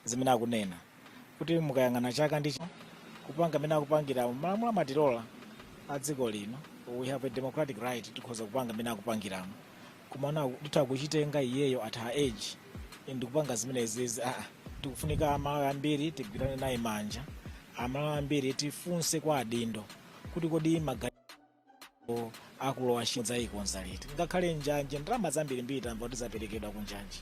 zimene akunena kuti mukayang'ana chaka ndi chaka kupanga mmene akupangiramo malamulo amatilola a dziko lino we have a democratic right tikhoza kupanga mmene akupangiramo komano titha kuchitenga iyeyo at her age ndikupanga zimenezi aa tikufunika amalawi ambiri tigwirane naye manja amalawi ambiri tifunse kwa adindo kuti kodi magalimoto akulowa ntchito adzayikonza liti ngakhale njanje ndalama zambirimbiri tamva kuti zaperekedwa ku njanje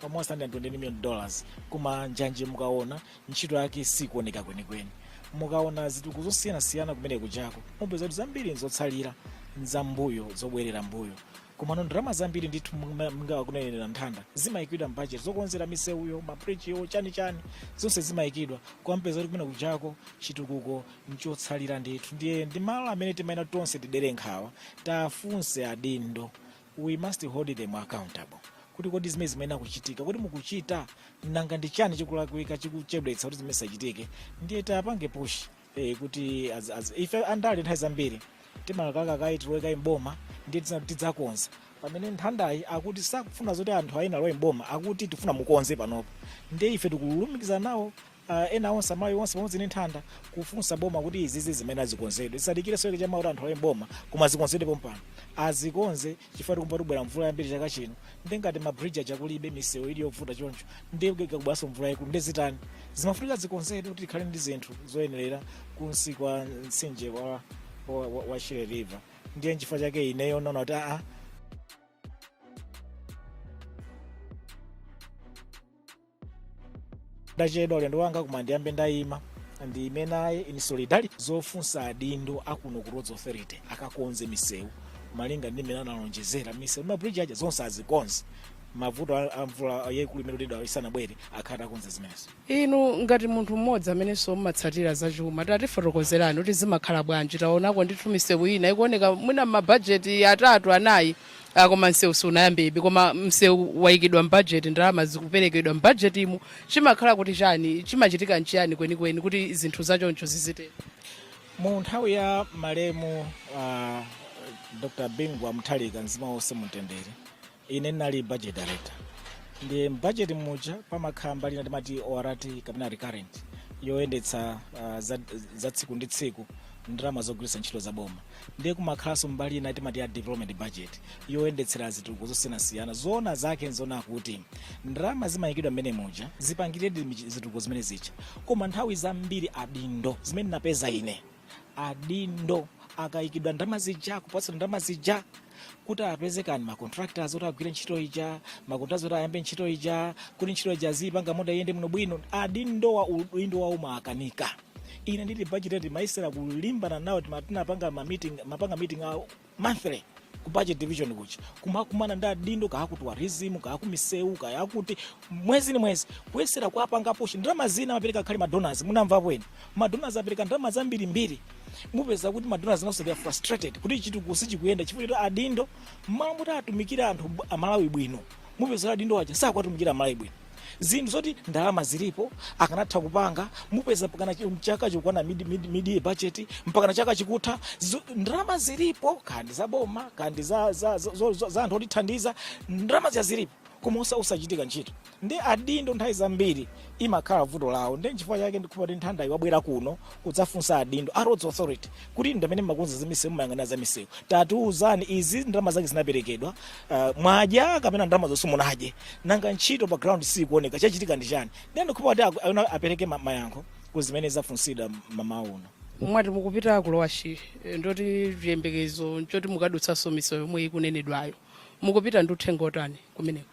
almost 120 million dollars koma njanje mukaona ntchito yake sikuoneka kwenikweni mukaona zitukuko zosiyanasiyana kumene kujako mupeza kuti zambiri nzotsalira nzambuyo zobwerera mbuyo komano ndalama zambiri ndithu mnga- monga akunenera nthanda zimayikidwa mbajeti zokonzera misewuyo mabridgewo chani chani zonse zimayikidwa koma mupeza kuti kumene kujako chitukuko nchotsalira ndithu ndiye ndi malo amene timayenera tonse tidere nkhawa tafunse adindo we must hold them accountable kuti kodi zimene zimayenera kuchitika kodi mukuchita nanga ndi chani chikulakwika chikuchedwetsa kuti zimene zisachitike ndiye tapange pushi eh, kuti az, az, ife andale nthawi zambiri timalakalaka kaye tilowe kaye mboma ndiye tiza- tidzakonza pamene nthandayi akuti sakufuna zoti anthu ena alowe mboma akuti tifuna mukonze panopa ndiye ife tikulumikiza nawo ah, ena onse amayi onse pamodzi ndi nthanda kufunsa boma kuti izizi zimayenera zikonzedwe zisadikire soyeke chama kuti anthu alowe mboma koma zikonzedwe pompano azikonze chifukwa tikumva kuti kubwera mvula yambiri chaka chino nde ngati mabridge aja kulibe misewu ili yovuta choncho nde ikabweranso mvula yayikulu nde zitani zimafunika zikonzedwe kuti tikhale ndi zinthu zoyenerera kunsi kwa mtsinje wa, wa, wa, wa shire river ndiye nchifukwa chake ineyo naona kuti aa ndachedwa ulendo wanga koma ndiyambe ndayima ndiyime naye in solidarity zofunsa adindo akuno a ku roads authority akakonze misewu malinga ndi mmene analonjezera misewu ndi mabridge aja zonse azikonze mavuto a- a mvula yayikulu imene tidamva isanabwere akhale atakonza zimenezo inu ngati munthu mmodzi amenenso mmatsatira zachuma tatifotokozerani kuti zimakhala bwanji taonako ndithu misewu ina ikuoneka mwina mmabajeti atatu anayi Ah, koma msewu suunayambebe koma msewu wayikidwa mbajeti ndalama zikuperekedwa mbajetimu zimakhala kuti chani chimachitika nchiyani kwenikweni kuti zinthu zachoncho zizitero mu nthawi ya malemu uh, dr bingu wa mutharika mzimu wawo uuse mumtendere ine ndinali budget director ndiye mbudget muja pamakhala mbali ina timati ORT kapena recurrent yoyendetsa uh, za, za tsiku ndi tsiku ndalama zogwiritsa ntchito za boma ndiye kumakhalanso mbali ina timati ya development budget yoyendetsera zitukuko zosiyanasiyana zoona zake nzoona kuti ndalama zimayikidwa mmene muja zipangiredi michi- zitukuko zimene zija koma nthawi zambiri adindo zimene napeza ine adindo akaikidwa ndalama zija kupatsidwa ndalama zija kuti apeze kaya ndi macontractors oti agwire ntchito ija macontractors oti ayambe ntchito ija kuti ntchito ija izipanga moti iyende bwinobwino adindowa udindo wawo umawakanika ine ndili ku budget timayesera kulimbana nawo tima- tinapanga ma meeting timapanga meeting a monthly ku budget division kuja kumakumana ndi adindo kaya aku tourism kaya aku misewu kaya akuti mwezi ndi mwezi kuyesera kuwapanga push ndalama zina amapereka kale madonors munamvapo ena madonors apereka ndalama zambirimbiri mupeza kuti madonors nawonso they are frustrated kuti chitukuko sichikuyenda chifukwa choti adindo mmalo moti atumikire anthu bw- amalawi bwino mupeza kuti adindo aja sakuwatumikira amalawi bwino zinthu zoti ndalama zilipo akanatha kupanga mupeza mpakana chi- mchaka chikukwana mid, mid, mid budget mpakana chaka chikutha Zo- ndalama zilipo kaya ndi za boma kaya ndi za, za, za, za, za, za anthu otithandiza ndalama zija zilipo koma osa- osachitika ntchito ndiye adindo nthawi zambiri imakhala vuto lawo nde nchifukwa chake ndikuti nthanda iwabwera kuno kudzafunsa adindo a roads authority kuti inu ndi amene mumakonza za misewu mumayang'anira za misewu tatiuzani izi ndalama zake zinaperekedwa uh, mwadya kapena ndalama zo simunadye nanga ntchito pa ground sikuoneka chachitika ndi chani ndiye ndikuti kuti aku- awona apereke ma- mayankho ku zimene zafunsidwa mmawa uno mwati mukupita ku Lower Shire eh, ndoti chiyembekezo nchoti mukadutsanso misewu yomwe ikunenedwayo mukupita ndi uthenga wotani kumeneko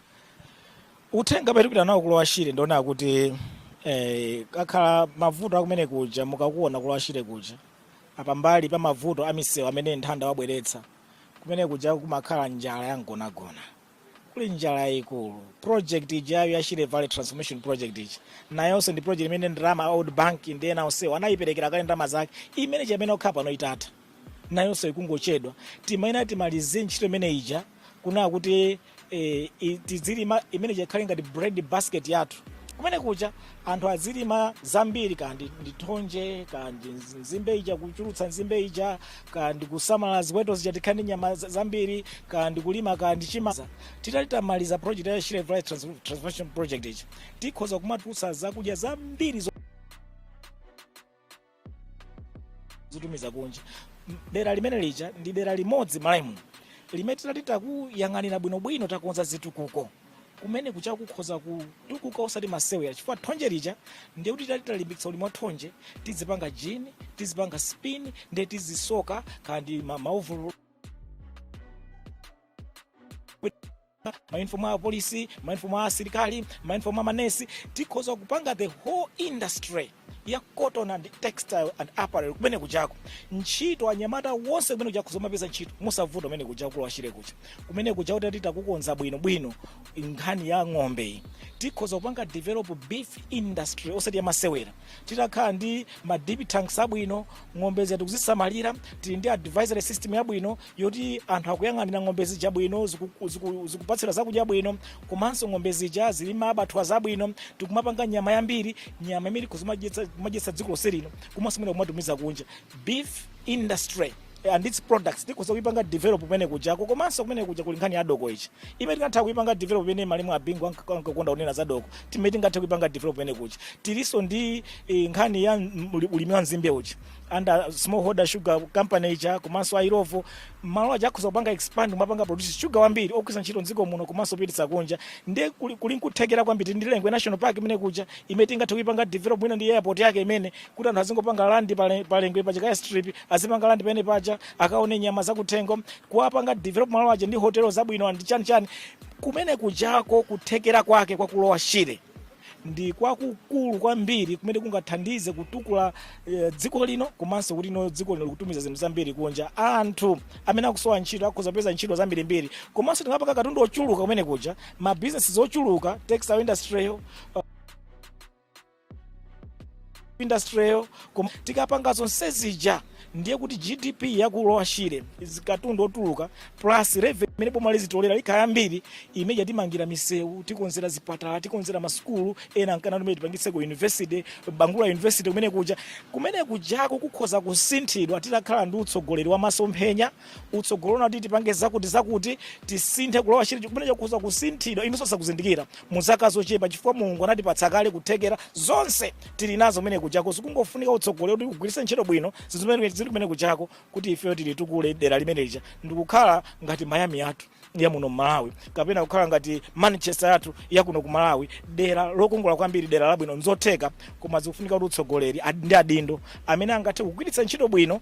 uthenga umene tipita nawo ku Lower Shire ndi wonena kuti eh, kwakhala mavuto akumene kuja mukakuona ku Lower Shire kuja apa pambali pa mavuto a misewu amene nthanda wabweretsa kumene kuja kumakhala njala ya mgonagona kuli njala yayikulu project ijayo ya shire valley transformation project ija nayonso ndi project imene ndalama a World Bank ndi ena onsewo anayiperekera kale ndalama zake imene ikanakhala pano itatha nayonso ikungochedwa tikuyenera timalize ntchito imene ija kunena kuti eh, i- tidzilima imene ikhale ngati bread basket yathu kumene kuja anthu azilima zambiri kaya ndi thonje kaya ndi nzi- nzimbe ija kuchulutsa nzimbe ija kaya ndi kusamala ziweto zija tikhale ndi nyama za- zambiri kaya ndi kulima kaya ndi chimanga titati titamaliza project ya Shire Valley Trans- transformation project ija tikhoza kumatulutsa zakudya zambiri zo- zotumiza kunja dera limene lija ndi dera limodzi m'Malawimu limene titati takuyang'anira bwinobwino takonza zitukuko kumene kuja kukhoza kutukuka osati masewera chifukwa thonje lija ndiye kuti titati talimbikitsa ulimi wa thonje tizipanga jini tizipanga spin ndiye tizisoka kaya ndi maovololo mauniform a apolisi mauniform a asilikali mauniform a manesi tikhoza kupanga the whole industry ya cotton and textile and apparel kumene kujako ntchito anyamata onse kumene kujako azimapeza ntchito mosavuta kumene kuja ku lower shire kuja kumene kuja kuti titakukonza bwino bwino nkhani ya ng'ombe iyi tikhoza kupanga develop beef industry osati yamasewera titakhala ndi ma dip tanks abwino ng'ombe zathu tikuzisamalira tili ndi advisory system yabwino yoti anthu akuyang'anira ng'ombe zija bwino ziku- ziku- zikupatsira zakudya bwino komanso ng'ombe zija zili mabadwa zabwino tikumapanga nyama yambiri nyama imene kuzimadyetsa kumadyetsa dziko lonse lino komanso mwina kumatumiza kunja beef industry and its products tikhoza kuipanga develop kumene kujako komanso kumene kuja kuli nkhani ya doko ichi imene tingatha kuipanga develop imene malemu a bingu ankakonda kunena za doko limene tingathe kuipanga develop kumene kuja tilinso ndi eh, nkhani ya mm, uli- ulimi wa nzimbe uja under smallholder sugar company ija komanso a illovo malo aja akhoza kupanga expand kumapanga produce sugar wambiri ogwiritsa ntchito mdziko muno komanso kupititsa kunja ndiye kuli kuli nkuthekera kwambiri ndi lengwe national park kumene kuja imene tingathe kuipanga develop mwina ndi airport yake imene kuti anthu azingopanga landi pale- palengwe pa chikaya strip azipanga landi pamene paja akaone nyama zakuthengo kuwapanga develop malo aja ndi hotelo zabwino and chani chani kumene kujako kuthekera kwake kwa ku lower shire ndi kwakukulu kwambiri kumene kungathandize kutukula eh, dziko lino komanso kuti no dziko lino likutumiza zinthu zambiri kunja anthu amene akusowa ntchito akhoza kupeza ntchito zambirimbiri komanso tingapanga katundu ochuluka kumene kuja mabizinesi ochuluka textile industry industrial koma tikapanga zonse zija ndiye kuti gdp ya ku lower shire zikatundu otuluka plus revenue imene boma lizitolera ikhala yambiri imeja timangira misewu tikonzera zipatala tikonzera masukulu ena ngakhale kumene tipangitseko university bangula university kumene kuja kumene kujako kukhoza kusinthidwa titakhala ndi utsogoleri wa masomphenya utsogoleri unati tipange zakuti zakuti tisinthe ku lower shire kumene kukhoza kusinthidwa inunso sakuzindikira mu zaka zochepa chifukwa mulungu anatipatsa kale kuthekera zonse tili nazo kumene kujako zikungofunika utsogoleri woti ugwiritse ntchito bwino zinthu zimene zili kumene kujako kuti ifeyo tilitukule dera limene lija ndikukhala ngati miami yathu ya muno mmalawi kapena kukhala ngati manchester yathu ya kuno ku malawi dera lokongola kwambiri dera labwino nzotheka koma zikufunika kuti utsogoleri ad- ndi adindo amene angathe kugwiritsa ntchito bwino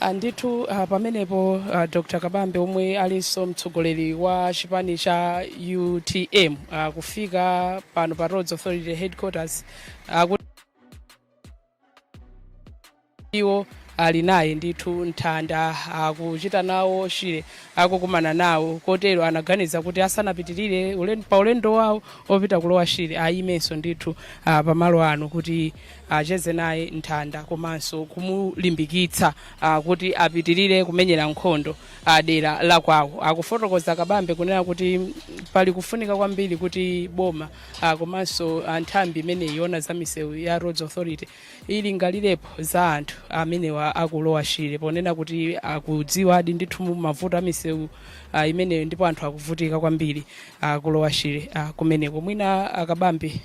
andithu uh, pamenepo uh, dr kabambe omwe alinso mtsogoleri wa chipani cha utm uh, kufika pano pa roads authority headquarters uh, kuti iwo alinayo ndithu mitanda akuchita ku lower shire akukumana nawo kotero anaganiza kuti asanapitirire ulen- pa ulendo wawo opita ku lower shire ayimenso ndithu ah, pamalo ano kuti acheze naye Nthanda komanso kumulimbikitsa ah, kuti apitirire kumenyera nkhondo ah, dera la kwawo. Akufotokoza Kabambe kunena kuti mm, pali kufunika kwambiri kuti boma ah, komanso ah, nthambi imene iona za misewu ya Roads Authority ilingalirepo za anthu amenewa a ku Lower Shire ponena kuti akudziwadi ndithu mavuto a misewu ah, imeneyo ndipo anthu akuvutika kwambiri a ku Lower Shire ah, kumeneko mwina a Kabambe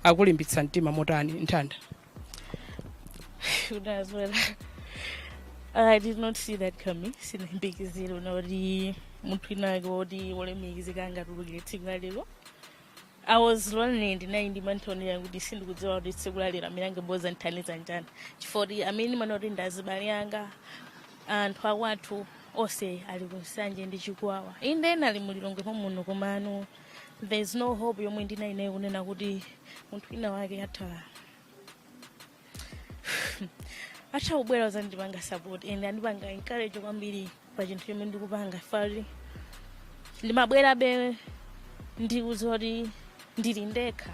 akulimbitsa mtima motani Nthanda Should as well. I did not see that coming. Sindinayembekezere kuti munthu inake woti wolemekezeka angatuluke tsiku la lero. I was lonely ndinali ndi mantha onena kuti sindikudziwa kuti tsiku la lero amene angabwere kuzandithandiza ndani. Chifukwa kuti amene ndimaona kuti ndi azibale anga anthu akwathu onse ali ku Nsanje ndi Chikwawa. Inde ena ali mu Lilongwe muno komano there is no hope yomwe ndinali nayo kunena kuti munthu wina wake atha atha kubwera kuzandipanga support and andipanga encourage kwambiri pa chinthu chomwe ndikupanga finakuti ndimabwerabe ndikudziwa kuti ndili ndekha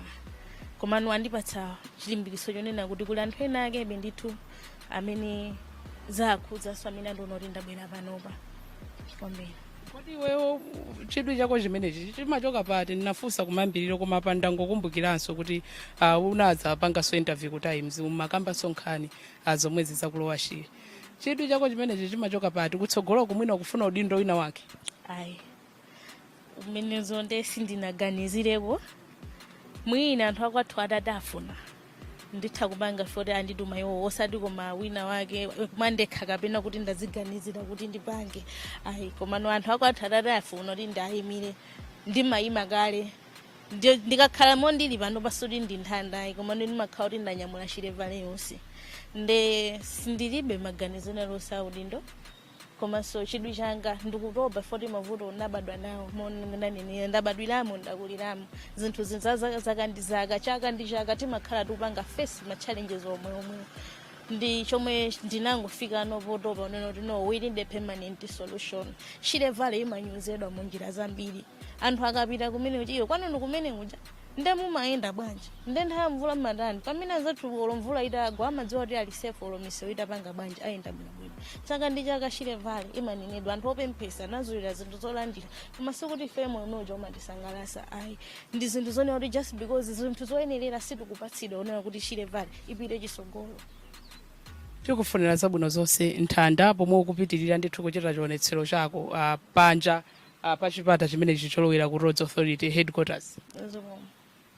komano andipatsa chilimbikitso chonena kuti kuli anthu ena akebe ndithu amene zawakhudzanso amene andiona kuti ndabwera panopa kwambiri kodi iweyo chidwi chako chimenechi chimachoka pati ndinafunsa kumayambiriro koma apa ndangokumbukiranso kuti uh, unadzapanganso interview ku Times umakambanso nkhani uh, zomwezi za ku Lower Shire chidwi chako chimenechi chimachoka pati kutsogolo ku mwina ukufuna udindo wina wake ayi zimenezo nde sindinaganizireko mwina anthu akwathu atatafuna nditha kupanga poti andituma iwo osati ngati mwina wake mwandekha kapena kuti ndaziganizira kuti ndipange ayi komano anthu akwathu atatafuna kuti ndiwayimire ndimayima kale Ndi- ndikakhala momwe ndili pano si kuti ndi Nthanda ayi komano ndimakhala kuti ndanyamula Shire Valley yonse nde ndilibe maganizo aliwonse a udindo komanso chidwi changa ndikutopa poti mavuto ndabadwa nawo momwe ndanenera ndabadwiramo ndakuliramo zinthu zaka ndi zaka chaka ndi chaka timakhala tikupanga face ma challenges omweomwewo ndi chomwe ndinangofikano potopa kunena kuti no we need a permanent solution Shire Valley imanyozedwa mu njira zambiri anthu akapita kumene kuja iwe kwanu kumene kuja nde mumayenda bwanji nde nthawi ya mvula mmatani pamene anzathu olo mvula itagwa amadziwa kuti ali safe olo misewu itapanga bwanji ayenda bwinobwino chaka ndi chaka Shire Valley imanenedwa anthu opemphetsa anazolowera zinthu zolandira koma sikuti ife moyo umenewo umatisangalatsa ayi ndi zinthu zonena kuti just because zinthu zoyenerera sitikupatsidwa zonena kuti Shire Valley ipite chitsogolo tikukufunira zabwino zonse Nthanda pomwe ukupitirira ndithu kuchita chionetsero chako uh, panja ah, pa chipata chimenechi cholowera ku roads authority headquarters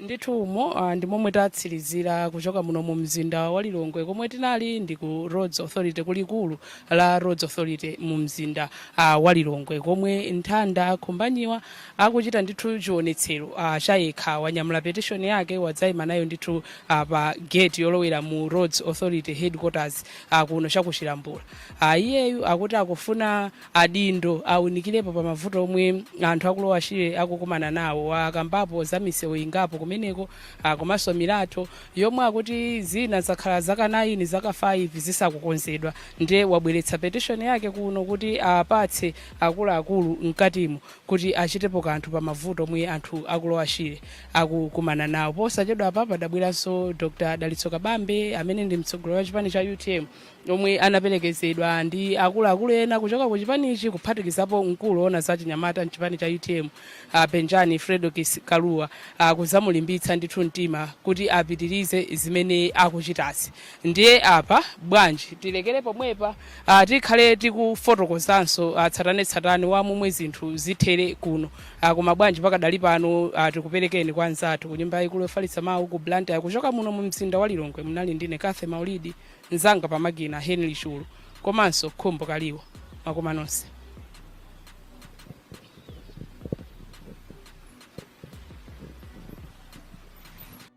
ndithu umo ah, ndi momwe tatsirizira kuchoka muno mu mzinda wa lilongwe komwe tinali ndi ku roads authority kulikulu la roads authority mu mzinda ah, wa lilongwe komwe nthanda khumbanyiwa akuchita ndithu chionetsero ah, cha yekha wanyamula petition yake wadzayima nayo ndithu ah, pa gate yolowera mu roads authority headquarters ah, kuno chakuchilambula ah, iyeyu akuti akufuna adindo awunikilepo pa mavuto omwe anthu aku lower shire akukumana nawo akambapo za misewu ingapo kumeneko ah, komanso milatho yomwe akuti zina zakhala zaka 9 zaka 5 zisakukonzedwa ndiye wabweretsa petition yake kuno kuti apatse akuluakulu mkatimo kuti achitepo kanthu pa mavuto omwe anthu aku lower shire akukumana nawo posachedwapa padabweranso dr dalitso kabambe amene ndi mtsogoleri wa chipani cha utm omwe anapelekezedwa ndi akuluakulu ena kuchoka ku chipanichi kuphatikizapo mkulu owona za chinyamata mchipani cha utm a penjani fredokiss kalua kuzamulimbitsa ndithu mtima kuti apitirize zimene akuchitazi ndiye apa bwanji tilekere pomwepa ah, tikhale tikufotokozanso ah, tsatanetsatane wa momwe zinthu zithere kuno Ah, koma bwanji pakadali pano ah, tikuperekeni kwa anzathu ku nyumba yaikulu yofalitsa mawu ku blantyre kuchoka muno mu mzinda wa lilongwe munali ndine cathy maulidi Mzanga pa makina Henry Chulu komanso Khumbo Kaliwo. Mwakoma nonse.